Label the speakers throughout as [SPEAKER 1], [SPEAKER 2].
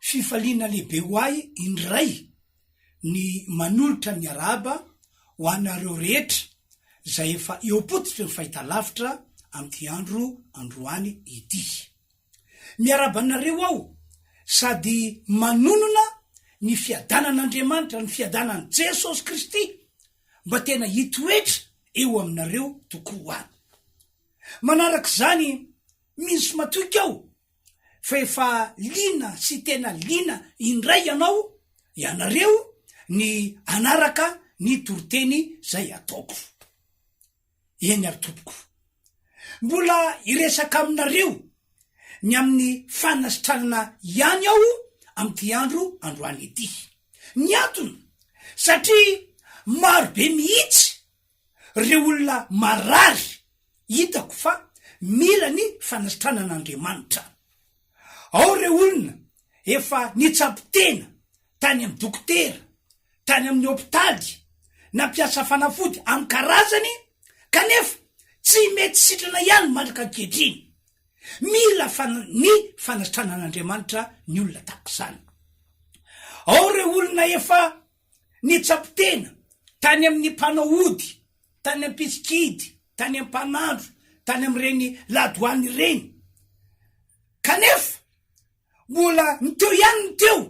[SPEAKER 1] Fifaliana lehibe ho ahy indray ny manolotra ny arahaba ho anareo rehetra izay efa eo am-pototry ny fahitalavitra amin'ity andro androany ity. Miarahaba anareo aho sady manonona ny fiadanan'Andriamanitra, ny fiadanan'i Jesosy Kristy mba tena hitoetra eo aminareo tokoa. Manarak'izany, misy matoky aho fa efa liana sy tena liana indray ianao, ianareo, ny hanaraka ny toriteny izay ataoko. Eny ary tompoko. Mbola hiresaka aminareo ny amin'ny fanasitranana ihany aho amin'ity andro androany ity. Ny antony, satria marobe mihitsy Reo olona marary hitako fa mila ny fanasitranana Andriamanitra. Ao reo olona efa nitsabo tena tany amin'ny dokotera, tany amin'ny hopitaly, nampiasa fanafody amin'ny karazany kanefa tsy mety sitrana ihany mandraka ankehitriny. Mila ny fanasitranan'Andriamanitra ny olona tahaka izany. Ao reo olona efa. Nitsampitena tany amin'ny mpanao ody, tany ampitsikidy, tany ampanandro, tany amin'ireny ladoany ireny. Kanefa mbola ny teo ihany ny teo.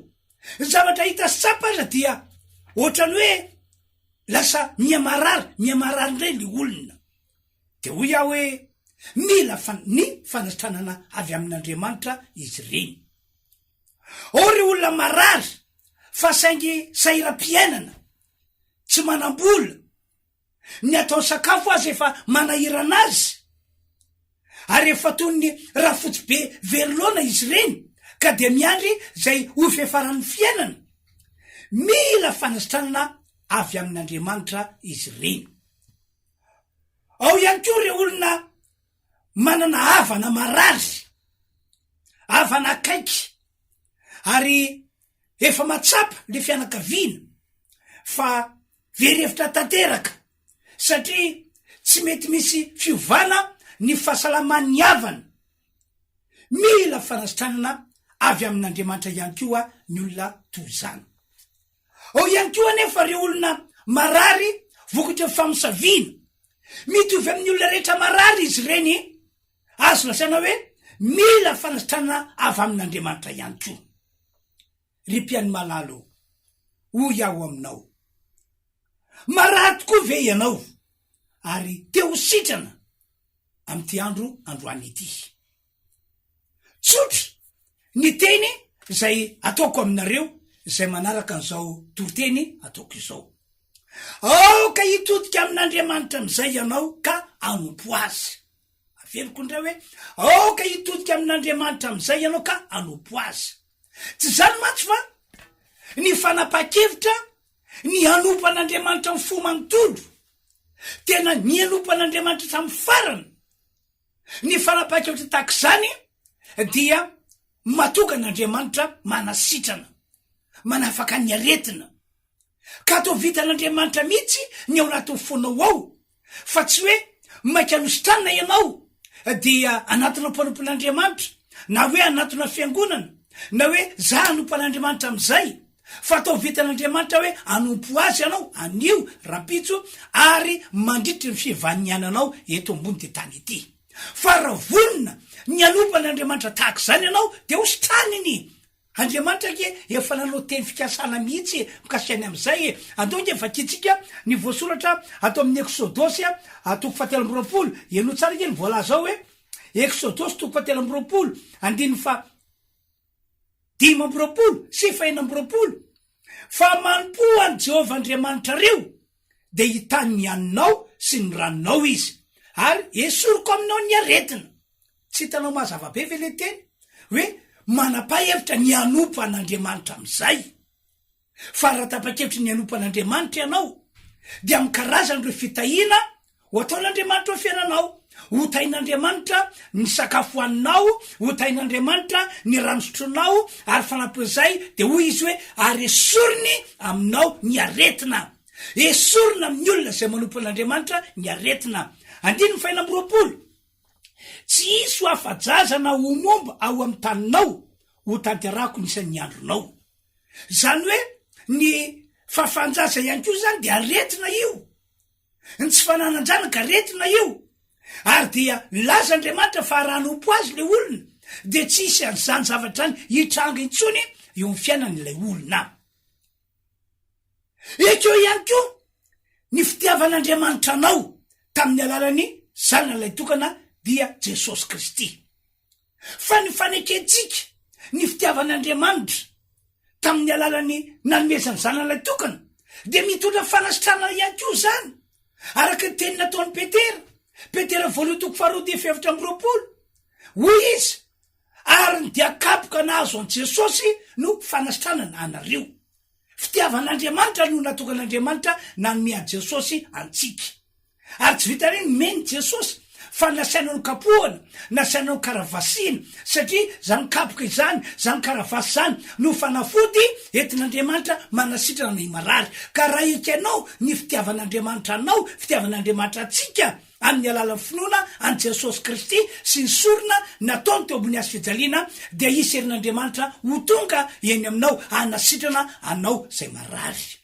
[SPEAKER 1] Ny zavatra hita tsapa aza dia ohatran'ny hoe lasa mihamarary, mihamarary indray ilay olona. Dia hoy aho hoe mila ny fanatsanana avy amin'Andriamanitra izy ireny. Ao ireo olona marary. fa saingy sahiram-piainana, tsy manam-bola, ny atao sakafo aza efa manahirana azy, ary efa toy ny rafotsibe very laona izy ireny ka dia miandry izay ho fiafaran'ny fiainana, mila fanasitranana avy amin'Andriamanitra izy ireny. Ao ihany koa ireo olona manana havana marary, havana akaiky ary efa matsapa le fianakaviana fa very hevitra tanteraka satria tsy mety misy fiovana ny fahasalaman'ny havana. Mila fanasitranana avy amin'Andriamanitra ihany koa ny olona toy izany. Ao ihany koa anefa ireo olona marary vokatry ny famosaviana. Mitovy amin'ny olona rehetra marary izy ireny. Azo lazaina hoe mila fanasitranana avy amin'Andriamanitra ihany koa. Ry mpihaino malala o, hoy aho aminao, marary tokoa ve ianao ary te ho sitrana amin'ity andro androany ity? Tsotra ny teny izay ataoko aminareo izay manaraka an'izao toriteny ataoko izao. Aoka hitodika amin'Andriamanitra amin'izay ianao ka hanompo Azy. Averiko indray hoe, aoka hitodika amin'Andriamanitra amin'izay ianao ka hanompo Azy. Tsy izany mantsy fa ny fanapahan-kevitra ny hanompo an'Andriamanitra amin'ny fo manontolo, tena ny hanompo an'Andriamanitra hatramin'ny farany, ny fanapahan-kevitra tahaka izany dia mahatonga an'Andriamanitra manasitrana, manafaka ny aretina. Ka toa vitan'Andriamanitra mihitsy ny ao anatin'ny fonao ao fa tsy hoe maika nositrana ianao dia anatona mpanompon'Andriamanitra na hoe anatona fiangonana na hoe za hanompo an'Andriamanitra amin'izay fa toa vitan'Andriamanitra hoe hanompo Azy ianao anio, rampitso ary mandritry ny fivaniananao eto ambon'ity tany ity. Fa raha vonona ny hanompo an'Andriamanitra tahaka izany ianao dia hositraniny! Andriamanitra ange efa nanao teny fikasana mihitsy e, mikasika ny amin'izay e. Andao ange vakintsika ny voasoratra ato amin'ny Eksodosy a, toko fahatelo amby roapolo, henoy tsara ange ny voalaza ao e. Eksodosy toko fahatelo amby roapolo, andininy faha dimy amby roapolo sy fahenina amby roapolo, Fa manompoa an'i Jehovah Andriamanitrareo. dia hitany ny haninao sy ny ranonao Izy, ary hesoriko aminao ny aretina. Tsy hitanao mazava be ve le teny hoe manapa hevitra ny hanompo an'Andriamanitra amin'izay? Fa raha tapa-kevitra ny hanompo an'Andriamanitra ianao, dia amin'ny karazan'ireo fitahiana Ho ataon'Andriamanitra ho fiainanao. Ho tahin'Andriamanitra ny sakafo hohaninao, ho tahin'Andriamanitra ny rano sotroinao, ary fanampin'izay dia hoy Izy hoe, Ary esoriny aminao ny aretina. Esorina amin'ny olona izay manompo an'Andriamanitra ny aretina. Andininy fahenina amby roapolo, Tsy hisy ho afa-jaza na ho momba ao amin'ny taninao, hotanterahako ny isan'ny andronao. Izany hoe ny fahafahan-jaza ihany koa izany dia aretina io. ny tsy fananan-janaka aretina io, ary dia nilaza Andriamanitra fa raha hanompo Azy ilay olona dia tsy hisy an'izany zavatra izany hitranga intsony eo amin'ny fiainan'ilay olona. Ekeo ihany koa ny fitiavan'Andriamanitra anao tamin'ny alalan'ny Zanany Lahitokana dia Jesosy Kristy. fa ny fanekentsika ny fitiavan'Andriamanitra tamin'ny alalan'ny nanomezany Zanan'ilay tokana dia mitondra fanasitranana ihany koa izany, araka ny teny nataon'i Petera, Petera voalohany toko faharoa dia fefatra amby roapolo, hoy izy, ary ny dia kapoka nahazo an'i Jesosy no fanasitranana anareo. Fitiavan'Andriamanitra no natokan'Andriamanitra nanome an'i Jesosy antsika. Ary tsy vitan'iny nomen'i Jesosy fa nasiana nokapohana, nasiana nokaravasina, satria izany kapoka izany, izany karavasy izany no fanafody entin'Andriamanitra manasitrana ny marary. Ka raha ekenao ny fitiavan'Andriamanitra anao, fitiavan'Andriamanitra antsika amin'ny alalan'ny finoana an'i Jesosy Kristy sy ny sorona nataony teo ambony hazo fijaliana, dia hisy herin'Andriamanitra ho tonga eny aminao hanasitrana anao izay marary.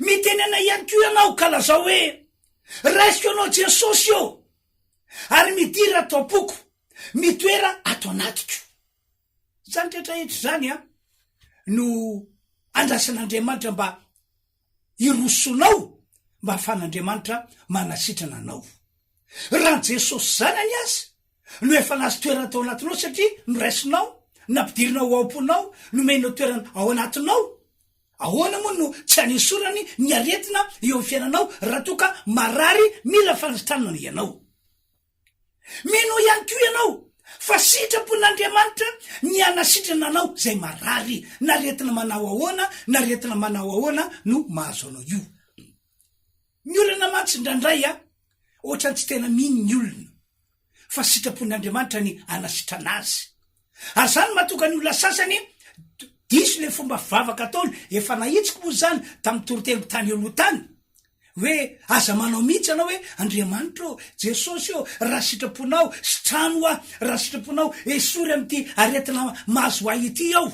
[SPEAKER 1] Mitenena ihany koa ianao ka lazao hoe, Raisiko anao Jesosy ô! ary midira ato am-poko, mitoera ato anatiko. Izany rehetra rehetra izany an, no andrasan'Andriamanitra mba hirosonao mba hahafahan'Andriamanitra manasitrana anao. Raha ny Jesosy Zanany aza no efa nahazo toerana tao anatinao satria noraisinao, nampidirinao ao am-ponao, nomenao toerana ao anatinao, Ahoana moa no tsy hanesorany ny aretina eo amin'ny fiainanao raha toa ka marary mila fanasitranana ianao? Mino ihany koa ianao fa sitrapon'Andriamanitra ny hanasitrana anao izay marary, n'aretina manao ahoana n'aretina manao ahoana no mahazo anao io. Ny olana mantsy indraindray a, ohatran'ny tsy tena mino ny olona. fa sitrapon'Andriamanitra ny hanasitrana azy. Ary izany no mahatonga ny olona sasany diso ilay fomba fivavaka ataony. Efa nahitsiko moa izany tamin'ny toriteliko tany eo aloha tany, hoe aza manao mihitsy ianao hoe Andriamanitra ô, Jesosy ô, raha sitraponao, sitrano aho, raha sitraponao, esory amin'ity aretina mahazo ahy ity aho.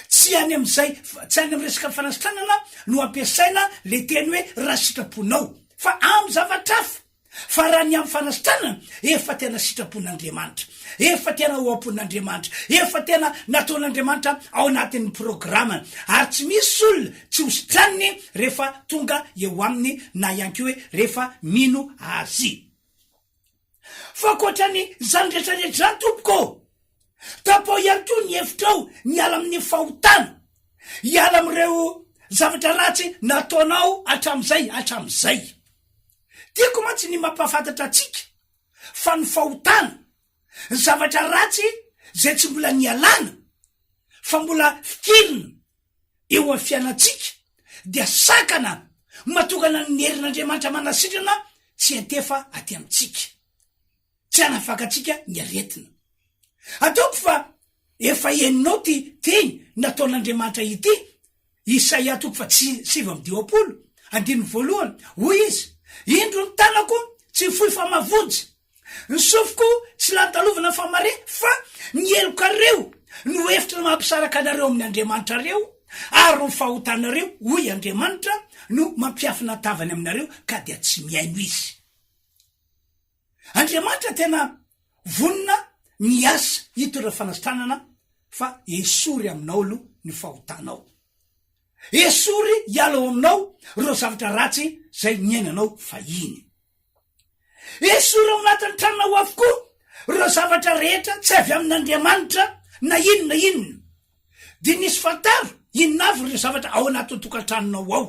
[SPEAKER 1] Tsy any amin'izay, tsy any amin'ny resaka fanasitranana no ampiasaina ilay teny hoe raha sitraponao, fa amin'ny zavatra hafa. Fa raha ny amin'ny fanasitranana, efa tena sitrapon'Andriamanitra, efa tena ao am-pon'Andriamanitra, efa tena nataon'Andriamanitra ao anatin'ny programany, ary tsy misy olona tsy hositraniny rehefa tonga eo aminy na ihany koa hoe rehefa mino Azy. Fa ankoatran'izany rehetra rehetra izany, tompoko ô, tapaho ihany koa ny hevitrao miala amin'ny fahotana, hiala amin'ireo zavatra ratsy nataonao hatramin'izay hatramin'izay. Tiako mantsy ny mampahafantatra antsika fa ny fahotana, ny zavatra ratsy izay tsy mbola nialana fa mbola fikirina eo amin'ny fiainantsika dia sakana matokana ny herin'Andriamanitra manasitrana tsy hiantefa aty amintsika. tsy hanafakantsika ny aretina. Ataoko fa efa henonao ity teny nataon'Andriamanitra ity, Isaia toko faha sivy amby dimampolo, andininy voalohany, hoy Izy, Indro ny tanako tsy fohy fa mavonjy, ny sofiko tsy lany talovana fa mare, fa ny helokareo no efitra mampisaraka anareo amin'ny andriamanitrareo, ary ny fahotanareo, hoy Andriamanitra, no mampiafina tavany aminareo, ka dia tsy mihaino Izy. Andriamanitra tena vonona miasa hito ireo fanasitranana fa esory aminao aloha ny fahotanao. Esory hiala ao aminao ireo zavatra ratsy izay niainanao fahiny. Esory ao anatin'ny tranonao avokoa ireo zavatra rehetra tsy avy amin'Andriamanitra na inona inona. Dia nisy fantaro inona avy ireo zavatra ao anatin'ny tokantranonao ao.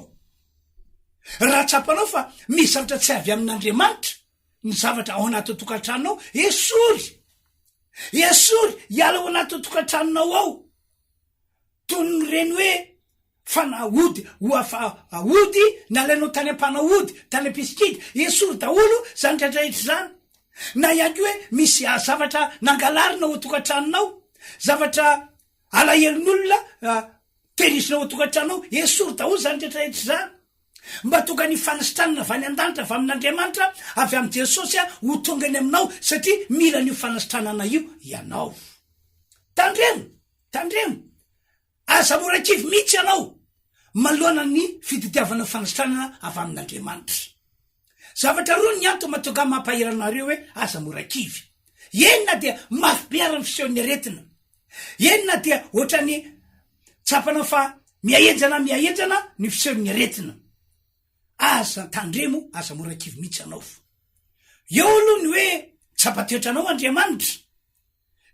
[SPEAKER 1] Raha tsapanao fa misy zavatra tsy avy amin'Andriamanitra ny zavatra ao anaty tokantranonao, esory! Esory! Iala ao anaty tokantranonao ao! Toy ny reny hoe fanahody ho afahody nalainao tany am-panahody, tany am-pisikida, esory daholo izany rehetrarehetra izany. Na ihany koa hoe misy zavatra nangalarina ao tokantranonao, zavatra Alahelon'olona tenisina ao an-tokantranonao, esory daholo izany rehetra rehetra izany. Mba tonga ny fanasitranana avy any an-danitra, avy amin'Andriamanitra, avy amin'i Jesosy ho tonga eny aminao, satria mila an'io fanasitranana io ianao. Tandremo, tandremo, aza mora kivy mihitsy ianao manoloana ny fitadiavana fanasitranana avy amin'Andriamanitra. Zavatra roa ny antony mahatonga ahy mampahery anareo hoe aza mora kivy. Eny na dia mafy be ary ny fisehon'ny aretina, eny na dia ohatran'ny tsapana fa mihahenjana mihahenjana ny fisehon'ny aretina, aza tandremo, aza mora kivy mihitsy anao. Eo aloha ny hoe tsapa toetranao Andriamanitra.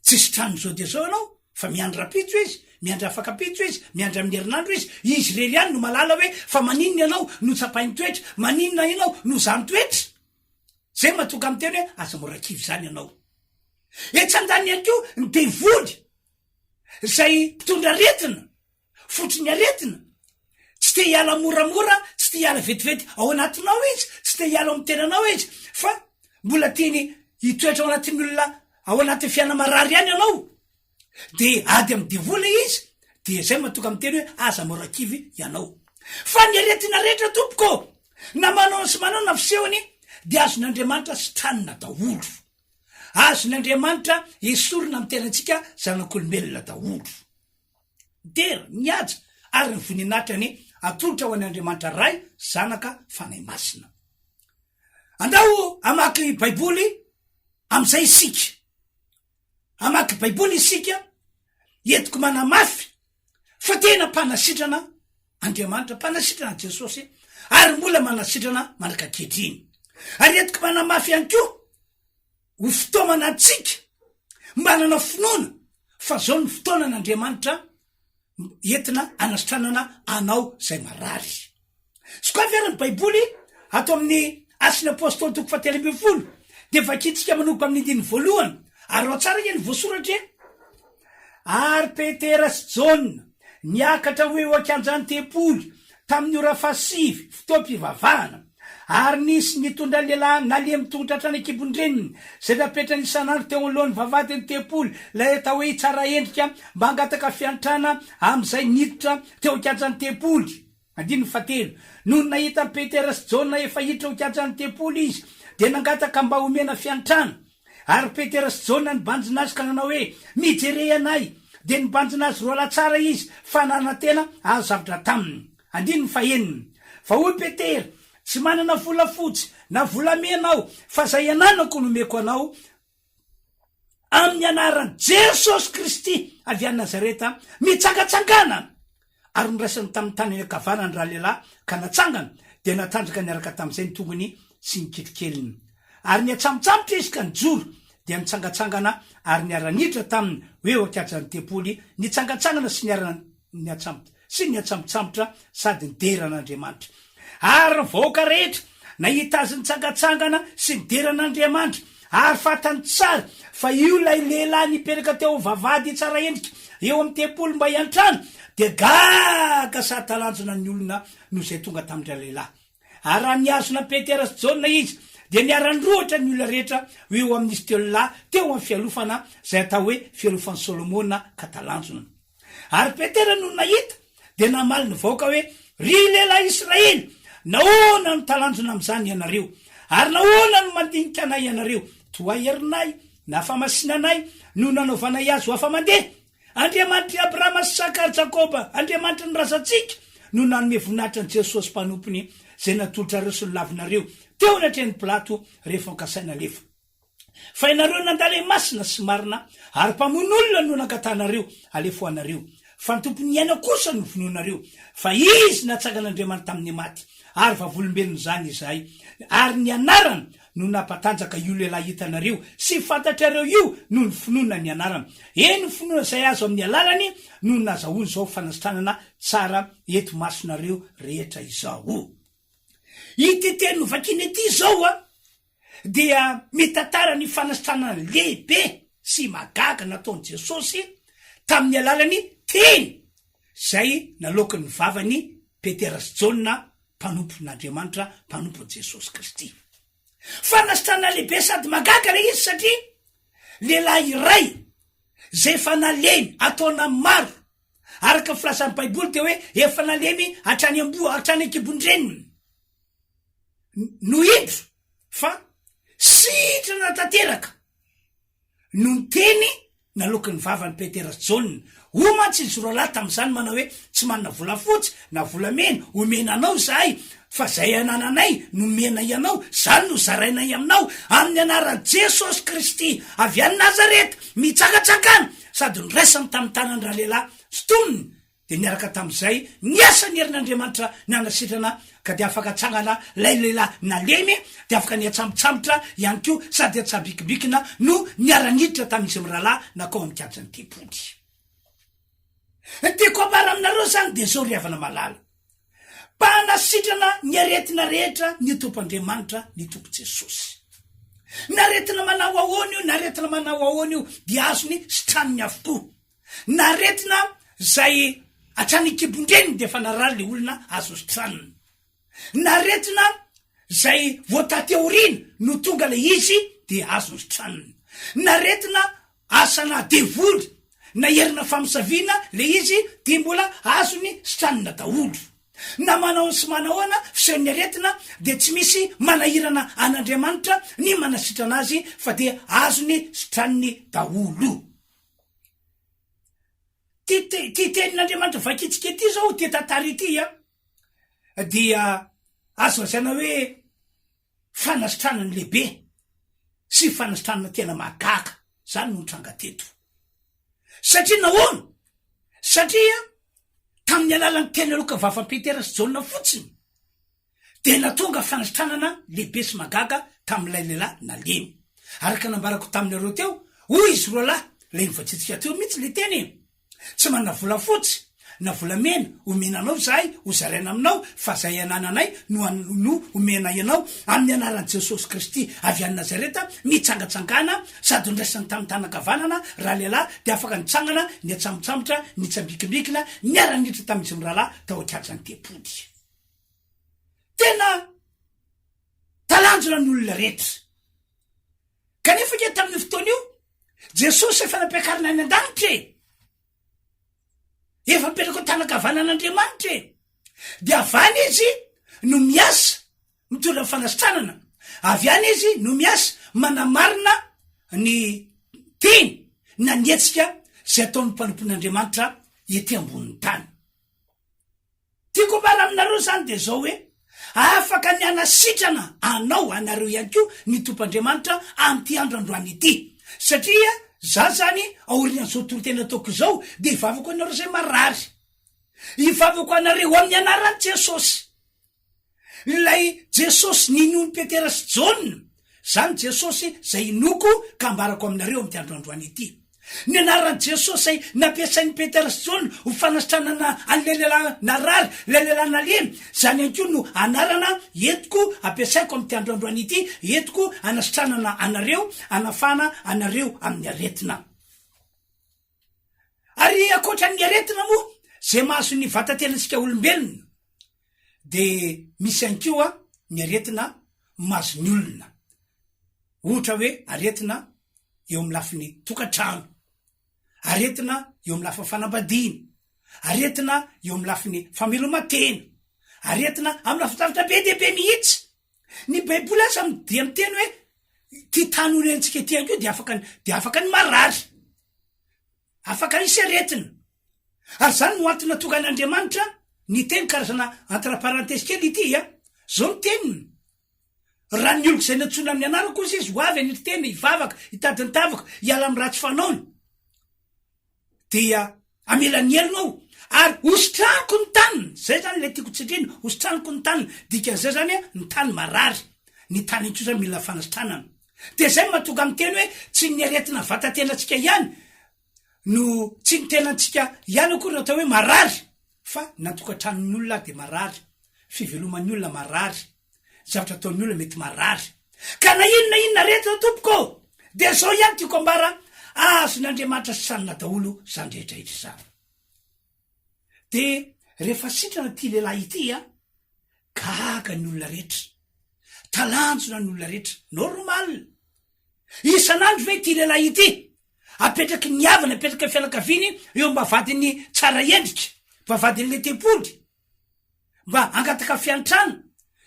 [SPEAKER 1] Tsy sitranin'i zao dia zao ianao fa miandry rapitso izy, miandry afakapitso izy, miandry amin'ny herinandro izy. Izy irery ihany no mahalala hoe fa maninona ianao no tsapain'ny toetra, maninona ianao no zany toetra. Zay mahatonga miteny hoe aza mora kivy zany ianao. Etsy andaniny ihany koa ny devoly, zay mpitondra aretina. Fototry ny aretina. Tsy te hiala moramora, tsy te hiala vetivety ao anatinao izy, tsy te hiala ao amin'ny tenanao izy, fa mbola tiany hitoetra ao anatin'ny olona ao anatin'ny fiainana marary ihany ianao. Dia ady amin'ny devoly izy, dia izay matoka miteny hoe aza mora kivy ianao. Fa ny aretina rehetra tompoko, na manao sy manao na fisehony, dia azon'Andriamanitra sitranina daholo. Azon'Andriamanitra esorina amin'ny tenantsika zanak'olombelona daholo. Dera, mihaja, ary ny voninahitra ny atolotra ho an' Andriamanitra Ray, Zanaka, Fanahy Masina. Andao hamaky Baiboly amin'izay isika. Hamaky Baiboly isika entiko manamafy fa tena mpanasitrana Andriamanitra, mpanasitrana Jesosy, ary mbola manasitrana mandrak'ankehitriny. Ary entiko manamafy ihany koa. Ho fitaomana antsika mba hanana finoana fa zao ny fotoanan' Andriamanitra entina anasitranana anao zay marary. Sokafy ary ny baiboly ato amin'ny Asin'ny Apostoly toko fahatelo ambin'ny folo dia vakintsika manomboka amin'ny andininy voalohany ary ao tsara anie ny voasoratra e! Ary Petera sy Jaona niakatra ho eo an-kianjan'ny tempoly tamin'ny ora fahasivy, fotoam-pivavahana. Ary nisy nitondra lehilahy nalemy tongotra hatrany an-kibon-dreniny, izay napetrany isan'andro teo anoloan'ny vavahadin'ny tempoly, ilay atao hoe Hitsara Endrika, mba hangataka fiantrana, amin'izay niditra teo an-kianjan'ny tempoly. Andininy fahatelo, Nony nahita an'i Petera sy Jaona efa hiditra ho kianjan'ny tempoly izy, dia nangataka mba homena fiantrana. Ary Petera sy Jaona nibanjina azy ka nanao hoe, Mijerey anay! Dia nibanjina azy roalahy tsara izy, fa nanantena hahazo zavatra taminy. Andininy fahenina, Fa hoy Petera, Tsy manana volafotsy na volamena aho, fa izay ananako no omeko anao, Amin'ny anaran'i Jesosy Kristy avy any Nazareta, mitsangatsangana! Ary noraisiny tamin'ny tanany ankavanana ny ralehilahy ka natsangana, dia natanjaka niaraka tamin'izay ny tongony sy ny kitokeliny. Ary niantsamotsamotra izy ka nijoro, dia nitsangatsangana ary niara-niditra taminy ho eo ankiajan'ny tempoly, nitsangatsangana sy niara-. ny atsambotra sy ny atsambotsambotra sady nidera an'Andriamanitra. Ary ny vahoaka rehetra nahita azy nitsangantsangana sy nidera an'Andriamanitra, ary fantany tsara fa io ilay lehilahy nipetraka teo amin'ny vavahady tsara endrika eo amin'ny tempoly mba hiantrano, dia gaga sady talanjona ny olona noho izay tonga tamin-dry lehilahy. Ary raha nihazona an'i Petera sy Jaona izy, dia niara-nirohotra ny olona rehetra ho eo amin'izy telo lahy teo amin'ny fialofana izay atao hoe fialofan'i Solomona ka talanjona. Ary Petera nony nahita, dia namaly ny vahoaka hoe, Ry lehilahy Israely, nahoana no talanjona amin'izany ianareo? Ary nahoana no mandinika anay ianareo? Toa herinay, na famasinanay, no nanaovanay azy ho afa-mandeha? Andriamanitr'i Abrahama sy Isaka ary Jakoba, Andriamanitry ny razantsika, no nanome voninahitra an'i Jesosy mpanompony, izay natolotrareo sy nolavinareo teo anatrehan'i Pilato rehefa nokasainy halefa. Fa ianareo nandale masina sy marina ary mpamono olona no nangatahanareo halefoanareo, fa ny Tompon'ny aina kosa no vonoinareo, fa Izy natsangan'Andriamanitra tamin'ny maty, ary vavolombelon'izany izahay, ary ny anarany no nampatanjaka io lehilahy hitanareo sy fantatrareo io noho ny finoana ny anarany, eny, ny finoana izay azo amin'ny alalany no nazahoany izao fanasitranana tsara eto imasonareo rehetra izao. Ity teny novakina ity izao, dia mitantara ny fanasitranana lehibe sy mahagaga nataon'i Jesosy tamin'ny alalan'ny teny izay naloakin'ny vavan'i Petera sy Jaona mpanompon'Andriamanitra, mpanompon'i Jesosy Kristy. Fanasitranana lehibe sady mahagaga ilay izy satria lehilahy iray izay efa nalemy ataona maro araka ny filazan'ny Baiboly dia hoe efa nalemy hatrany amboa, hatrany an-kibon-dreniny. no indro fa sitrana tanteraka no niteny naloky ny vavany Petera sy Jaona. Hoy mantsy izy roa lahy tamin'izany manao hoe, Tsy manana volafotsy na volamena homena anao izahay, fa izay anananay no nomenay anao, izany no zarainay aminao. Amin'ny anaran'i Jesosy Kristy avy any Nazareta, mitsakatsakana! Sady noraisany tamin'ny tanany ralehilahy sintoniny. Dia niaraka tamin'izay ny asan'ny herin'Andriamanitra nanasitrana, ka dia afaka atsangana ilay lehilahy nalemy, dia afaka nihatsambotsambotra ihany koa sady hatsabikimbikina no niara-niditra tamin'izy mirahalahy nankao amin'ny kianjan'ny tempoly. Ny tiako ambara aminareo izany dia izao ry havana malala, mba hanasitrana ny aretina rehetra ny Tompoandriamanitra, ny Tompo Jesosy. N'aretina manao ahoana io, n'aretina manao ahoana io, dia azony sitrany avokoa. Naretina zay hatrany an-kibon-dreniny dia efa narary le olona azo sitranina. Naretina zay vao taty aoriana no tonga le izy dia azo sitranina. Naretina asana devoly na herina famosaviana le izy dia mbola azony sitranina daholo. Na manahoana sy manahoana fisehon'ny aretina dia tsy misy manahirana an'Andriamanitra ny manasitrana azy fa dia azony sitraniny daholo. Ity tenin'Andriamanitra vakintsika ity izao, ity tantara ity an, dia azo lazaina hoe fanasitranana lehibe sy fanasitranana tena mahagaga izany no nitranga teto. Satria nahoana? Satria tamin'ny alalan'ny teny aloka vavan'i Petera sy Jaona fotsiny, dia natonga fandritranana lehibe sy mahagaga tamin'ilay lehilahy nalemy. Araka ny nambarako taminareo teo, hoy izy roa lahy, ilay novatsiantsika teo mihitsy ilay teny e! Tsy manana volafotsy na volamena omena anao izahay hozaraina aminao, fa izay anananay no no omenay anao, amin'ny anaran'i Jesosy Kristy avy any Nazareta, mitsangatsangana sady noraisiny tamin'ny tanana ankavanana ralehilahy, dia afaka nitsangana, niatsambontsambotra, nitsambikimbikina, niara-niditra tamin'izy mirahalahy tao an-kianjan'ny tempoly. Tena talanjona ny olona rehetra. Kanefa ange tamin'io fotoana io, Jesosy efa nampiakarina any an-danitra e! Efa mipetraka ao tanakavanan'Andriamanitra e! Dia avy any izy no miasa mitondra ny fanasitranana. Avy any izy no miasa manamarina ny teny na ny hetsika izay ataon'ny mpanompon'Andriamanitra ety ambonin'ny tany. Tiako ambara aminareo izany dia izao hoe, afaka ny hanasitrana anao ianareo ihany koa ny Tompoandriamanitra amin'ity andro androany ity. Satria izaho izany aorian'izao toriteny ataoko izao dia ivavako ho anareo izay marary. Ivavako ho anareo amin'ny anaran'i Jesosy. Ilay Jesosy ninoan'i Petera sy Jaona, Zany Jesosy zay inoako ka ambarako aminareo amity andro androany ity. Ny anaran'i Jesosy zay nampiasain'i Petera sy Jaona ho fanasitranana an'ilay lehilahy narary, ilay lehilahy nalemy, zany ihany koa no anarana entiko ampiasaiko amity andro androany ity entiko anasitranana anareo, anafahana anareo amin'ny aretina. Ary ankoatra ny aretina moa zay mahazo ny vatantenatsika olombelona de misy ihany koa ny aretina mahazo ny olona, ohatra hoe aretina eo amin'ny lafiny tokantrano, aretina eo amin'ny lafiny fanambadiana, aretina eo amin'ny lafiny fameloma-tena, aretina amin'ny lafin-javatra be dia be mihitsy. Ny baiboly aza dia miteny hoe ty tany orentsika ity anko dia afaka dia afaka ny marary afaka isy aretina ary zany no antona tonga an'andriamanitra ny teny karazana antraparantesy kely ity a zao ny teniny raha ny oloko izay nantsona amin'ny anarako ozy izy ho avy any ry tena hivavaka hitadintavaka hiala amin'ny ratsy fanaony dia hamela ny helony aho ary hositraniko ny taniny, zay zany le tiako tsindrina, hositraniko ny taniny, dikan'izay zany hoe ny tany marary, ny tany iny kosa mila fanasitranana, dia zay no mahatonga ahy miteny hoe tsy ny aretina vatatenatsika ihany no tsy ny tenantsika ihany akory no atao hoe marary fa na tokantranon'ny olona ary dia marary, fiveloman'ny olona marary. zavatra ataon'ny olona mety marary. Ka na inona na inona aretina tompoko ô, dia izao ihany tiako ambara, azon'Andriamanitra sanona daholo izany rehetra rehetra izany. Dia rehefa sitrana ity lehilahy ity a, gaga ny olona rehetra, talanjona ny olona rehetra, normal. Isan'andro ve ity lehilahy ity apetraky ny havana, apetraka fianakaviany eo mba vadin'ny tsara endrika, mba vadin'ilay tempoly. mba hangataka fiantrana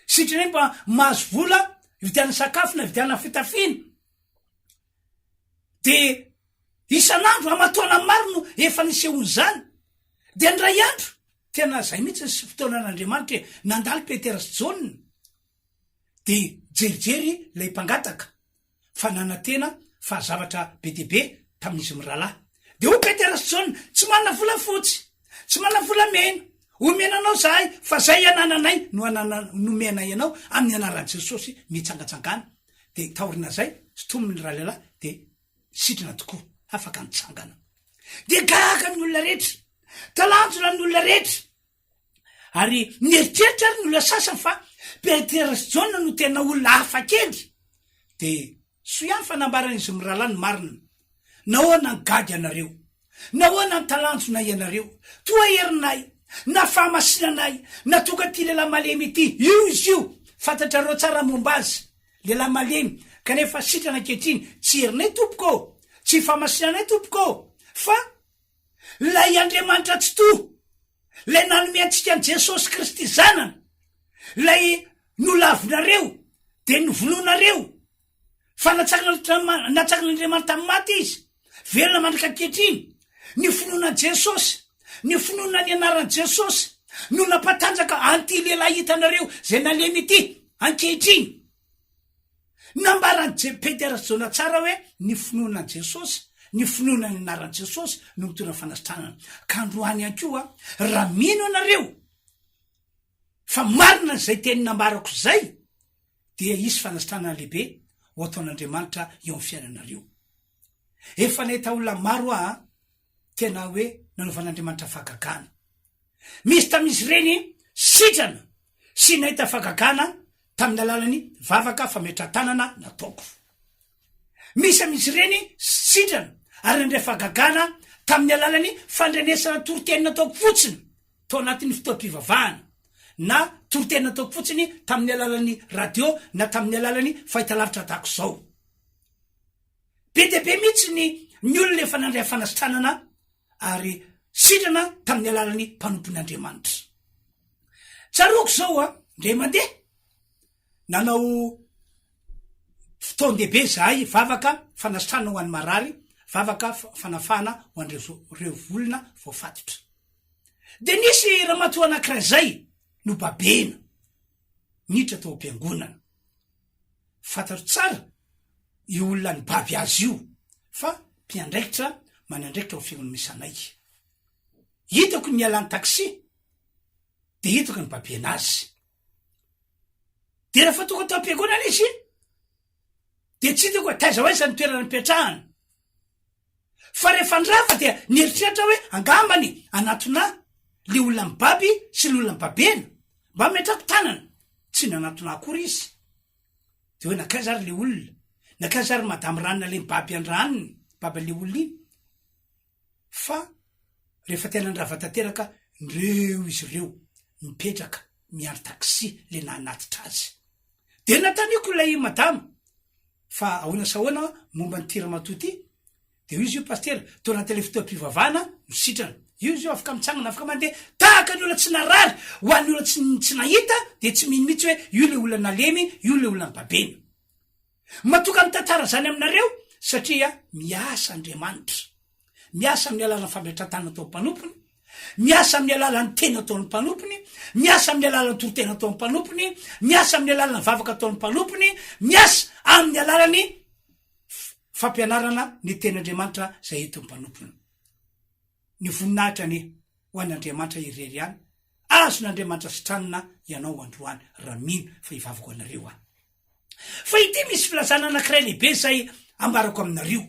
[SPEAKER 1] sitrany mba mahazo vola hividianana sakafo na hividianana fitafiana de isan'andro amatoana maro no efa nisehoan'izany de ny ray andro tena zay mihitsy ny sy fotoanan'andriamanitra e nandalo petera sy jaona de jerijery lay mpangataka fa nanantena fa zavatra be dia be tamin'izy mirahalahy. Dia hoy Petera sy Jaona, Tsy manana volafotsy, tsy manana volamena homena anao izahay, fa izay anananay no nomenay anao, amin'ny anaran'i Jesosy mitsangatsangana. Dia taorinazay, sintomin'ny rahalahy dia sidina tokoa, afaka nitsangana. Dia gaga ny olona rehetra, talanjona ny olona rehetra. Ary mieritreritra ary ny olona sasany fa Petera sy Jaona no tena olona hafa kely. Dia soa ihany fa nambaran'izy mirahalahy ny marina. Nahoana ny gaga ianareo? Nahoana ny talanjona ianareo? Toa herinay, na fahamasinanay, na tonga ity lehilahy malemy ity. Io izy io, fantatrareo tsara momba azy. Lehilahy malemy, kanefa sitrana ankehitriny. Tsy herinay, Tompoko ô! Tsy fahamasinanay, Tompoko ô! Fa Ilay Andriamanitra Tsitoha, Ilay nanome antsika an'i Jesosy Kristy Zanany, Ilay nolavinareo dia novonoinareo, fa natsakan'Andriamanitra, natsakan'Andriamanitra tamin'ny maty Izy, velona mandrika ankehitriny, ny finoana an'i Jesosy, ny finoana ny anaran'i Jesosy, no nampatanjaka an'ity lehilahy hitanareo izay nalemy ity ankehitriny. Nambaran'i Jepedy Rajoelina tsara hoe ny finoana an'i Jesosy, ny finoana ny anaran'i Jesosy no mitondra fanasitranana. Ka androany ihany koa, raha mino ianareo fa marina izay teny nambarako izay, dia hisy fanasitranana lehibe ho ataon'Andriamanitra eo amin'ny fiainanareo. Efa nahita olona maro aho. tena hoe nanaovan'Andriamanitra fahagagana. Misy tamin'izy ireny sitrana sy nahita fahagagana tamin'ny alalan'ny vavaka fametrahan-tanana nataoko. Misy amin'izy ireny sitrana ary nandray fahagagana tamin'ny alalan'ny fandrenesana toriteny nataoko fotsiny tao anatin'ny fotoam-pivavahana na toriteny nataoko fotsiny tamin'ny alalan'ny radio na tamin'ny alalan'ny fahitalavitra tahaka izao. Be dia be mihitsy ny ny olona efa nandray fanasitranana ary sitrana tamin'ny alalan'ny mpanompony Andriamanitra. Tsaroako izao a, ndray mandeha nanao fotoan-dehibe zahay vavaka fanasitrana ho an'ny marary, vavaka fanafahana ho an'ireo olona voafatotra. Dia nisy ramatoa anankiray izay nobabena niditra tao am-piangonana. Fantatro tsara io olona nibaby azy io fa mpiandraikitra manandraikitra ao Fiangonana misy anay. Hitako ny nialany taxi dia hitako nibabiana azy. Dia rehefa tonga tao am-piangonana izy dia tsy hitako hoe taiza ho aiza ny toerana nipetrahany. Fa rehefa nirava dia nieritreritra aho hoe angambany hanatona ahy le olona mibaby sy le olona mibabena mba metrako tanana, tsy nanatona ahy akory izy. De hoe nankaiza ary le olona, nankaiza ary madame Ranona le mibaby an-dRanony, baban'le olona iny. Fa rehefa tena nirava tanteraka nireo izy ireo, nipetraka niandry taxi le nanatitra azy. Dia nantaniako ilay madama fa ahoana sy ahoana momba an'ity ramatoa ity, dia hoy izy io pasitera tao anatin'ilay fotoam-pivavahana no sitrana. Io izy io afaka mitsangana afaka mandeha tahaka ny olona tsy narary. Ho an'ny olona tsy tsy nahita dia tsy mino mihitsy hoe io ilay olona nalemy, io ilay olona babena. Matoka mitantara izany aminareo satria miasa Andriamanitra. Miasa amin'ny alalan'ny fampiantrantana ataon'ny mpanompony, miasa amin'ny alalan'ny teny ataon'ny mpanompony, miasa amin'ny alalan'ny toriteny ataon'ny mpanompony, miasa amin'ny alalan'ny vavaka ataon'ny mpanompony, miasa amin'ny alalan'ny fampianarana ny teny Andriamanitra izay entin'ny mpanompony. Ny voninahitra anie ho an'Andriamanitra irery ihany. Azon'Andriamanitra sitranina ianao androany raha mino fa hivavaka ho anareo aho. Fa ity misy filazana anankiray lehibe izay ambarako aminareo.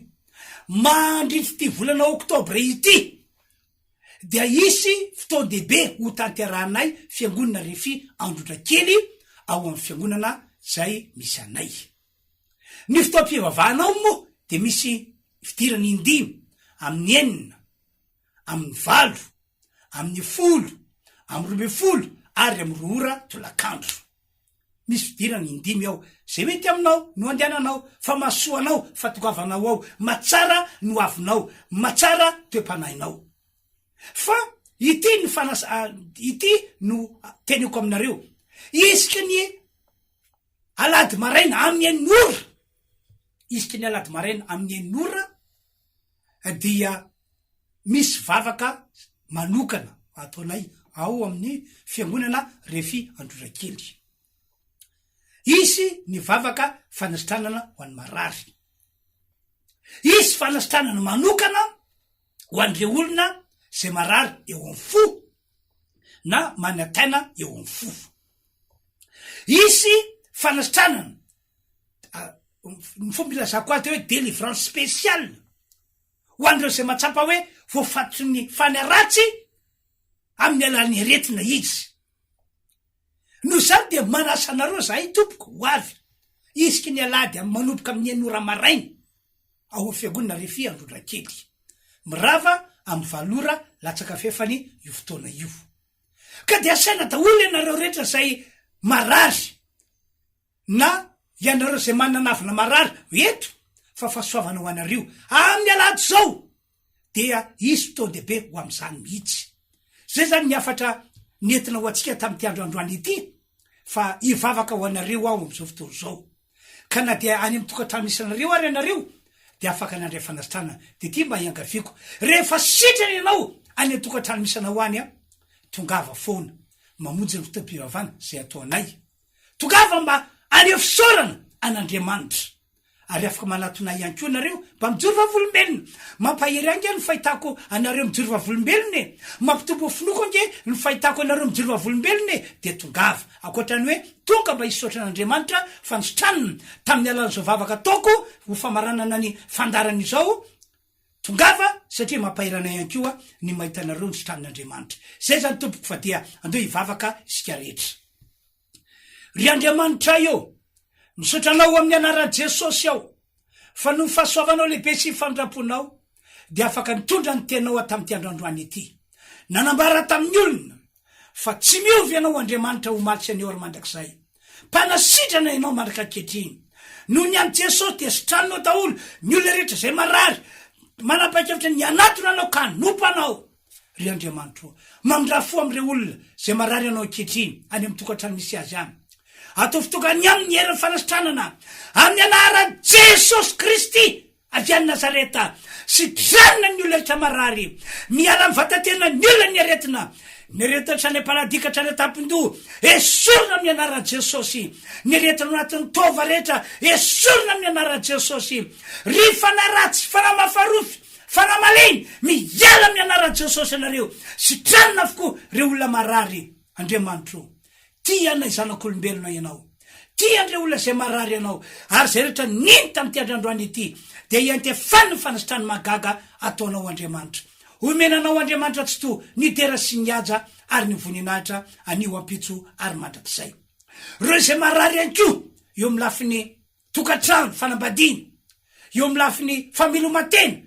[SPEAKER 1] Mandritra ity volana oktobra ity dia hisy fotoan-dehibe ho tanterahanay fiangonana Refi Androndra Kely ao amin'ny fiangonana izay misy anay. Ny fotoam-pivavahana ao moa dia misy fidirana indimy amin'ny enina, amin'ny valo, amin'ny folo, amin'ny roa ambin'ny folo ary amin'ny roa ora tolakandro. Misy fidirana indimy ao. Zay mety aminao no andehananao, fa mahasoa anao fatongavanao ao, mahatsara ny hoavinao, mahatsara toe-panahinao. Fa ity no fanas ity no teneko aminareo, isaky ny alahady maraina amin'ny enina ora, isaky ny alahady maraina amin'ny enina ora, dia misy vavaka manokana ataonay ao amin'ny fiangonana Refi Androrakely. Hisy ny vavaka fanasitranana ho an'ny marary. Hisy fanasitranana manokana ho an'ireo olona izay marary eo amin'ny fo na manantaina eo amin'ny fo. Hisy fanasitranana ny fomba ilazako azy dia hoe délivrance spéciale ho an'ireo izay mahatsapa hoe voafatotry ny fana ratsy amin'ny alalan'ny aretina izy noho izany dia manasa anareo zahay tompoko ho avy isika ny alahady amin'ny manomboka amin'ny enina ora maraina ao amin'ny fiangonana refi androndrakely mirava amin'ny valo ora latsaka fefany io fotoana io ka dia asaina daholo ianareo rehetra izay marary na ianareo izay manana navina marary eto fa fasoavana ho anareo amin'ny alahady izao dia hisy fotoan-dehibe ho amin'izany mihitsy. Izay izany ny hafatra nentina ho antsika tamin'ity andro androany ity fa hivavaka ho anareo aho amin'izao fotoana izao. Ka na dia any amin'ny tokantrano misy anareo ary ianareo dia afaka nandray fanasitranana. Dia ity mba iangaviako, rehefa sitrana ianao any an-tokantrano misy anao any, tongava foana mamonjy ny fotoam-pivavahana izay ataonay. Tongava mba haneho fisaorana an'Andriamanitra. Ary afaka manatona ahy ihany koa ianareo mba mijoro vavolombelona. Mampahery ahy ange ny fahitako anareo mijoro vavolombelona e! Mampitombo ny finoako ange ny fahitako anareo mijoro vavolombelona e! Dia tongava. Ankoatra ny hoe tonga mba hisaotra an'Andriamanitra fa nisitranina tamin'ny alalan'izao vavaka ataoko ho famaranana ny fandaharana izao Tongava satria mampahery anay ihany koa ny mahita anareo nisitranin' Andriamanitra. Izay izany tompoko fa dia andeho hivavaka isika rehetra. Ry Andriamanitray ô! Misaotra Anao amin'ny anaran'i Jesosy aho fa noho ny fahasoavanao lehibe sy ny famindramponao dia afaka nitondra ny Teninao hatamity androandroany ity. Nanambara tamin'ny olona fa tsy miova ianao Andriamanitra omaly sy anio ary mandrakizay. Mpanasitrana ianao mandraka ankehitriny. Noho ny an'i Jesosy dia sitranao daholo ny olona rehetra izay marary. Manapaikevitra ny hanatona anao ka hanompo anao. Ry Andriamanitra o, mamindrà fo amin'ireo olona izay marary anao ankehitriny any amin'ny tokantrano misy azy any. Ataovy tokana ny aminy ny herin'ny fanasitranana, amin'ny anaran'i Jesosy Kristy! Avy any Nazareta, sitrana ny olona rehetra marary, miala amin'ny vatan-tena ny olona ny aretina, ny aretina hatrany am-paladia ka hatrany an-tampon-doha, esorina amin'ny anaran'i Jesosy, ny aretina ao anatin'ny taova rehetra, esorina amin'ny anaran'i Jesosy, ry fanahy ratsy, fanahy mafarofy, fanahy malemy, miala amin'ny anaran'i Jesosy ianareo, sitranina avokoa ireo olona marary, Andriamanitro o. Tia anay zanak'olombelona Ianao. Tia an'ireo olona izay marary Ianao, ary izay rehetra nino tamin'ity androandroany ity dia iantefany ny fanasitran'ny mahagaga ataonao Andriamanitra. Omena Anao Andriamanitra Tsitoha ny dera sy ny haja ary ny voninahitra anio, ampitso ary mandrakizay. Ireo izay marary ihany koa eo amin'ny lafiny tokantrano, fanambadiana, eo amin'ny lafiny fameloman-tena,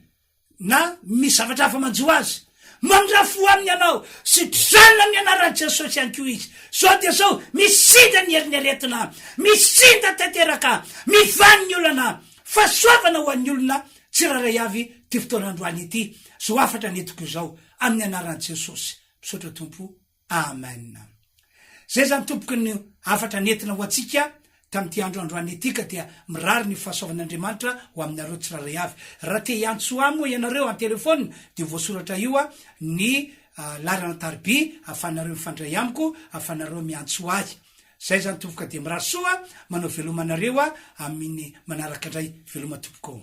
[SPEAKER 1] na misy zavatra hafa manjo azy. Mandrafo ho aminy ianao, sitrana amin'ny anaran'i Jesosy ihany koa izy. Izao dia izao, misinda ny herin'ny aretina, misinda tanteraka, mivany ny olana. Fahasoavana ho an'ny olona tsirairay avy ity fotoana androany ity, izao hafatra nentiko izao, amin'ny anaran'i Jesosy. Misaotra Tompo Amen! Zay zany tompoko ny hafatra nentina ho antsika tamin'ity andro androany ity ka dia mirary ny fahasoavan'Andriamanitra ho aminareo tsirairay avy. Raha te hiantso ahy moa ianareo en téléphone dia voasoratra io ny laharana tarby ahafahanareo mifandray amiko, ahafahanareo miantso ahy. Zay zany tompoko ka dia mirary soa, manao veloma anareo aho amin'ny manaraka indray, veloma tompoko ô.